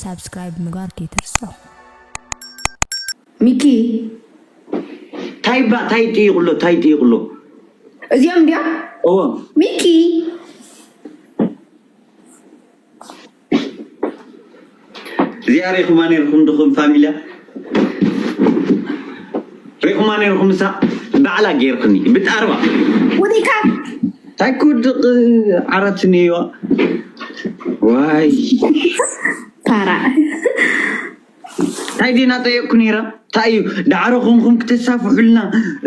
ሳብስክራይብ ምግባር ከይትርስዑ። ሚኪ ታይ ባ ታይ ጥይቕሎ ታይ ጥይቕሎ እዚኦም እንዲያ እዎ ሚኪ እዚኣ ሪኢኹማ ነይርኩም ድኹም ፋሚልያ ሪኹማ ነይርኹም እሳ ባዕላ ገይርክኒ ብጣርባ ወዲካ እንታይ ክውድቕ ዓራት ነይዋ ዋይ ፓራ እንታይ ዲና ጠየቅኩ ነይራ እንታይ እዩ ዳዕሮ ኮንኩም ክተሳፍሑልና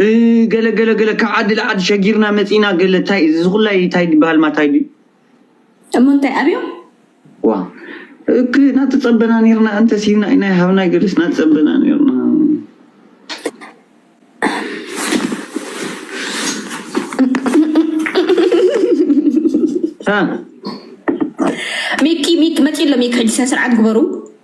እ፣ ገለ ገለ ገለ ካብ ዓዲ ልዓዲ ሸጊርና መፂና ገለ እንታይ እዚ ኩላይ እንታይ ድበሃል ማታይ ድዩ እሞ እንታይ ኣብዮም? ዋእ እክ ናተፀበና ነይርና እንተስ ሂብና ኢና ይሃብና ይገደስ ናተፀበና ነይርና። ሚኪ ሚኪ መፂኡ ኣሎ ሚኪ ሕጂ ስነ ስርዓት ግበሩ።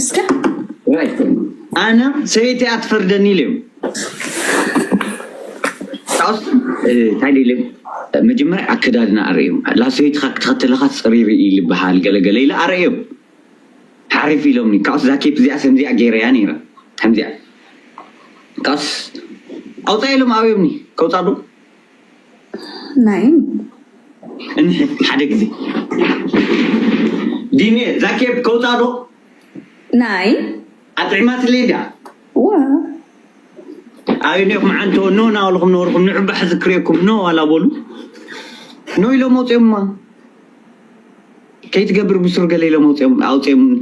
እስከ ኣነ ሰበይቲ እያ ትፈርደኒ ኢለ እዮም ጣውስ እንታይ ደለ መጀመርያ ኣከዳድና ኣርእዮም ላ ሰበይትካ ክትኸተለካ ፅሪ ርኢ ዝበሃል ገለገለ ኢለ ኣርእዮም ሓሪፍ ኢሎምኒ ካብኡስ እዛ ኬፕ እዚኣ ከምዚኣ ገይረያ ነይረ ከምዚኣ ካብኡስ ኣውፃ ኢሎም ኣብዮምኒ ከውፃ ዶ ናይም። እንሕ ሓደ ግዜ ዲኒየ እዛ ኬፕ ከውጻ ዶ። ናይ። ኣጥዒማትለይ ድያ። እዋ። ኣበይ ኔርኩም ዓንቶ ን ናበልኩም ነበርኩም ንዕባሕ ዝክሬኩም ን ዋላ በሉ ን ኢሎም ኣውጺኦማ ከይትገብር ብሱር ገለ ኢሎም ኣውጺኦምኒ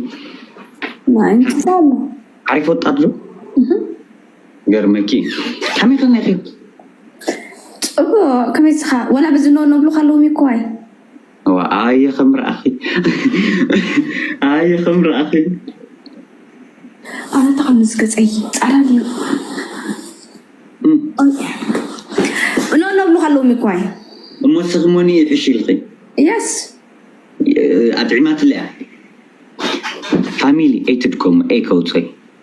ናይ ክሳብ ዓሪፍ ወጣት ዶ። ገርመኪ ከመይ ከመይ ኢኺ? ጽቡቅ ከመይ ስኻ ወላ ብዚ ኖ ነብሉካ ኣለዉ ሚኮዋይ። እዋ ኣየ ከም ረኣኺ ኣየ ከም ረኣኺ ኣነታ ካብ ንዝገጸይ ጻዕዳ ድዩ ኖ ነብሉካ ኣለዉ ሚኮዋይ። እሞ ንስኺ ሞኒ ይሕሽ ኢልኺ የስ ኣጥዒማትለያ ፋሚሊ ኣይትድከሙ ኤይ ከውጽእ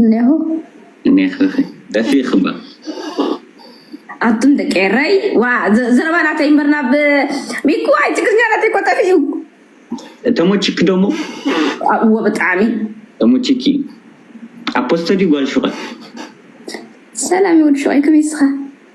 እነሆ እኔኽኺ ደፊእኺ እምበር ኣቱም ደቂ ኤረይ ዋ ዘ- ዘረባ ናተይ እምበር ናብ ሚኩ ኣይ ትግርኛ ናተይ እኮ ጠፊኡ ተሞችኪ ደሞ ኣብዎ ብጣዕሚ ተሞችኪ ኣፖስቶ ድዩ ጓል ሹቐ ሰላም ይውድ ሸቆይ ከመይ ስኻ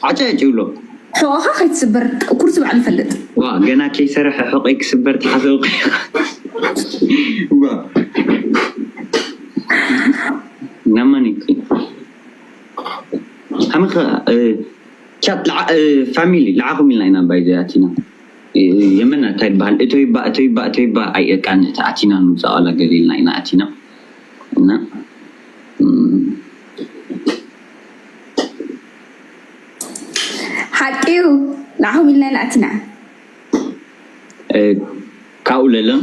ዓጨጭ ይብሎ። ሕቖኻ ከይትስበር ኩርሲ ባዕሉ ይፈልጥ። ዋእ ገና ከይሰረሐ ሕቖይ ክስበር ትሓስብ እኳ ናብ መን ኢኪ ኣመኸ ቻት ልዓ ፋሚሊ ልዓኹም ኢልና ኢና ባይዘ ኣቲና የመን ኣታ ይበሃል እቶይባ እቶይባ እቶይባ ኣይእቃን እቲ ኣቲና ንውፃእ ዋላ ገሊልና ኢና ኣቲና እና ሓቂ ዩ ንዓኹም ኢልና ኢና ኣቲና። ካብኡ ለለም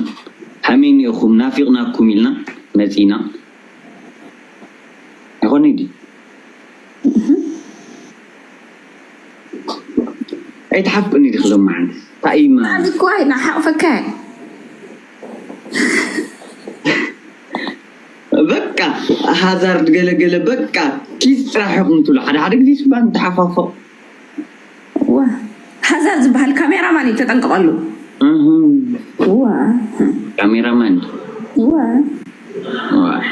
ሀመይ እኒኤኹም ናፊቅናኩም ኢልና መፂእና ኣይኮነይ ድዩ ኣይትሓፍቅኒ ዲኺ ሎማዓንቲ ታይ እማ ኣነ እኮ ኣይናሓቅፈካን። በቃ ሃዛርድ ገለ ገለ በቃ ኪስ ጥራሕ ኢኹም ትብሉ ሓደ ሓደ ግዜ ስባ ንተሓፋፈቕ። እወ ሃዛርድ ዝበሃል ካሜራ ማን እዩ ተጠንቀቐሉ። እህ እወ ካሜራ ማን እዩ። እወ ዋይ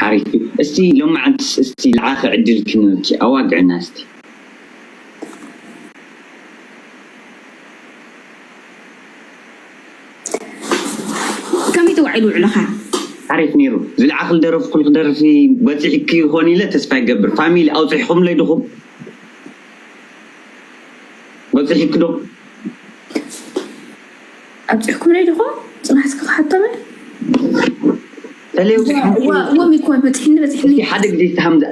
ሓሪፍ እስቲ ሎምዓንትስ እስቲ ልዓኺ ዕድል ክንበኪ ኣዋግዕና እስቲ። ከመይ ተዋዒሉ ውዕሎኻ? ሓሪፍ ነይሩ ዝልዓክል ደረፍኩ ክደርፊ በፂሕኪ ይኮን ኢለ ተስፋ ይገብር ፋሚሊ ኣውፅሕኹምለይ ድኹም በፂሕኪ ዶ ኣብፅሕኩምለይ ድኹም ፅባሕ እስኪ ክሓቶመ ወም ይኮን በፅሕኒ በፅሕኒ ሓደ ግዜ ሃምዚ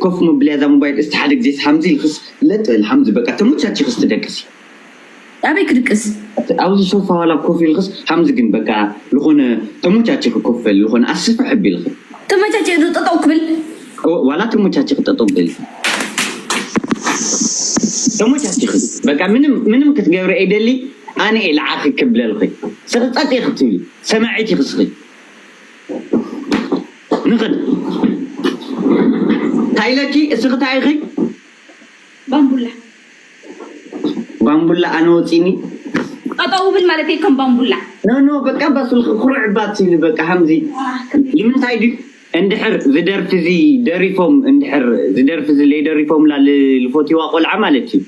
ኮፍ መብልያ እዛ ሞባይል እስቲ ሓደ ግዜ ሃምዚ ኢልክስ ለጥ በል ሃምዚ በቃ ተመቻቺ ክስቲ ደቅሲ ኣበይ ክድቅስ? ኣብዚ ሶፋ ዋላ ኮፍ ኢልክስ ሀምዚ ግን በቃ ልኾነ ተሞቻቺኺ ኮፍ በሊ ልኾነ ኣስፍሕ ኣቢልኺ። ተመቻችየ ዶ ጠጠው ክብል? ዋላ ተሞቻቺኺ ጠጠው በሊ ተሞቻቺኺ በቃ ምንም ምንም ክትገብሪ ኣይደሊ ኣነ እየ ልዓኺ ክብለልኺ ስኺ ጸጥ እየ ክትብሊ ሰማዒት ኢኺ ስኺ ንኽድ ታይ ኢለኪ እስኺ ታይ ኢኺ ባንቡላ ባንቡላ ኣነ ወጺኒ ጠጠው ብል ማለት ከም ባንቡላ ኖ ኖ በቃ ባሱልክ ኩርዕ ባትሊ በቃ ሃምዚ ንምንታይ ድዩ እንድሕር ዝደርፊ እዚ ደሪፎም እንድሕር ዝደርፊ እዚ ለይደሪፎምላ ልፎትዋ ቆልዓ ማለት እዩ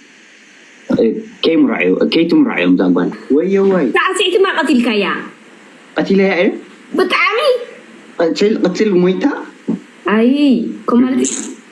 ከይምራዕዮ ከይትምራዕዮም ዛጓል ወየዋይ ሳዕሲዕትማ ቀቲልካያ ቀቲለያ እየ ብጣዕሚ ቅትል ቅትል ሞይታ ኣይ ኮማልቲ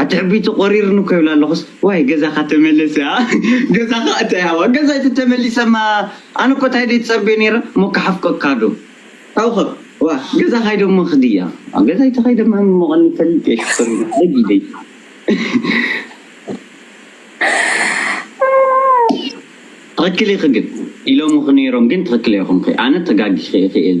ኣትዕቢቱ ቆሪርኒ እኮ ይብላ ኣለኹስ ዋይ ገዛኻ ተመለሰ ኣ ገዛኻ እታይ ኣዋ ገዛይ ተተመሊሰ እማ ኣነ እኮ እታይ ደይትጸቤ ነይረ እሞ ክሓፍቀካ ዶ ኮኾብ እዋ ገዛኻይ ዶ መኽድያ እዋ ገዛይ ተኻይ ዶ መሞቐኒ ይፈልጥ እየ ሽኮሪና ደጊ ደይ ትክክል ኢኪ ግን ኢሎሙኪ ነይሮም ግን ትክክል ኣይኮንኪ ኣነ ተጋጊኪ ኢኪ ኤሉ።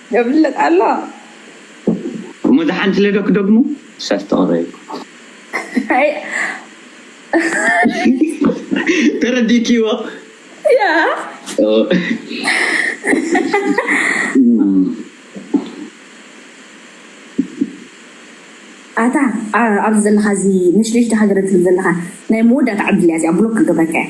የብልጥ ኣሎ። እሞ ዝሓንትለ ዶ ክደግሞ እሳት ተቅረዩ። ተረዲእክይዎ ኣታ ኣብዚ ዘለካ እዚ ንሽድሽተ ሃገር ትብል ዘለካ ናይ መወዳእታ ዕድል እያ እዚኣ ብሎክ ክገብረካ እየ።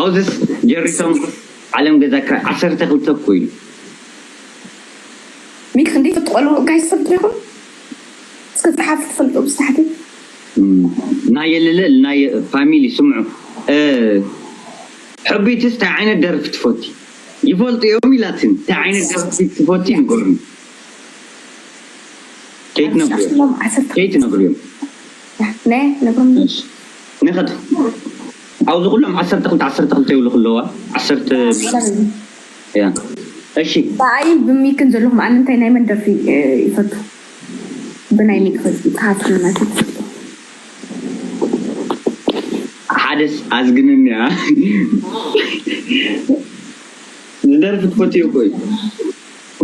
ኣውዝስ ጀሪቶም ዓለም ገዛ ክራይ ዓሰርተ ክልተ ኮይኑ። ሚኪ ክንደይ ትጥቆልዎ ጋይስ ሰብ ዲኹም እስከ ጻሓፉ ትፈልጡ ምስ ታሕቲ። ናየ ልለል ናየ ፋሚሊ ስምዑ ሕቢትስ ታይ ዓይነት ደርፊ ትፎቲ ይፈልጡ እዮም ኢላትኒ ታይ ዓይነት ደርፊ ትፎቲ ንገሩኒ ከይትነግርዮም ከይትነግርዮም። ንክድ ኣውዚ ኩሎም ዓሰርተ ክልተ ዓሰርተ ክልተ ይብሉ ክለዋ ዓሰርተ እሺ ብኣይን ብሚክን ዘለኹ መኣንንታይ ናይ መን ደርፊ ይፈቱ ብናይ ሚኪ ፈትዩ ተሃትፍልና ትፍልጡ ሓደስ ኣዝግንኒ ዝደርፊ ትፈትዮ እኮ እዩ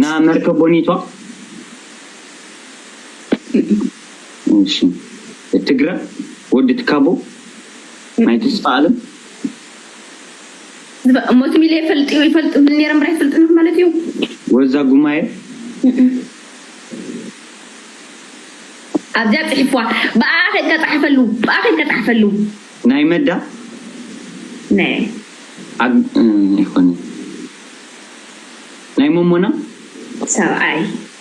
ና መርከብ ቦኒቷ እሺ ትግረ ወዲ ትካቦ ናይ ተስፋኣለም። ሞት ሚሊ የፈልጥ እዩ ይፈልጥ ምን ነረ ምራይ ፍልጥነት ማለት እዩ ወዛ ጉማየ። ኣብዚኣ ጽሒፍዋ ብኣኣ ከድካ ጸሓፈሉ ብኣ ከድካ ጸሓፈሉ። ናይ መዳ ናይ። ኣግ ኣይኮነን ናይ ሞሞና። ሰብኣይ።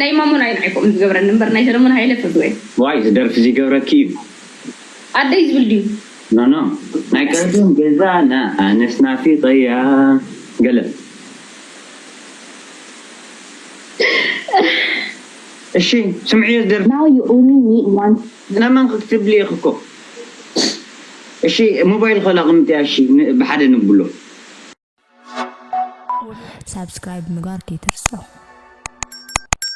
ናይ ማሙን ኣይንዓይ ከምኡ ዝገብረኒ እምበር ናይ ሰለሙን ሃይለ ፈትዎ እየ። ዋይ እዚ ደርፊ እዚ ይገብረኪ እዩ። ኣደይ ዝብል ድዩ? ኖ ኖ ናይ ቀደም ገዛና ኣነስ ናፊቀያ ገለ። እሺ ስምዕዮ እዚ ደርፊ። ናው ዩ ኦንሊ ኒድ ዋን ቱ። ነመንክ ክትብሊ ኢኪ እኮ እሺ ሞባይል ከላ ኣቅምጥያ እሺ ብሓደ ነብሎ። ሳብስክራይብ ምግባር ከይትርስዑ።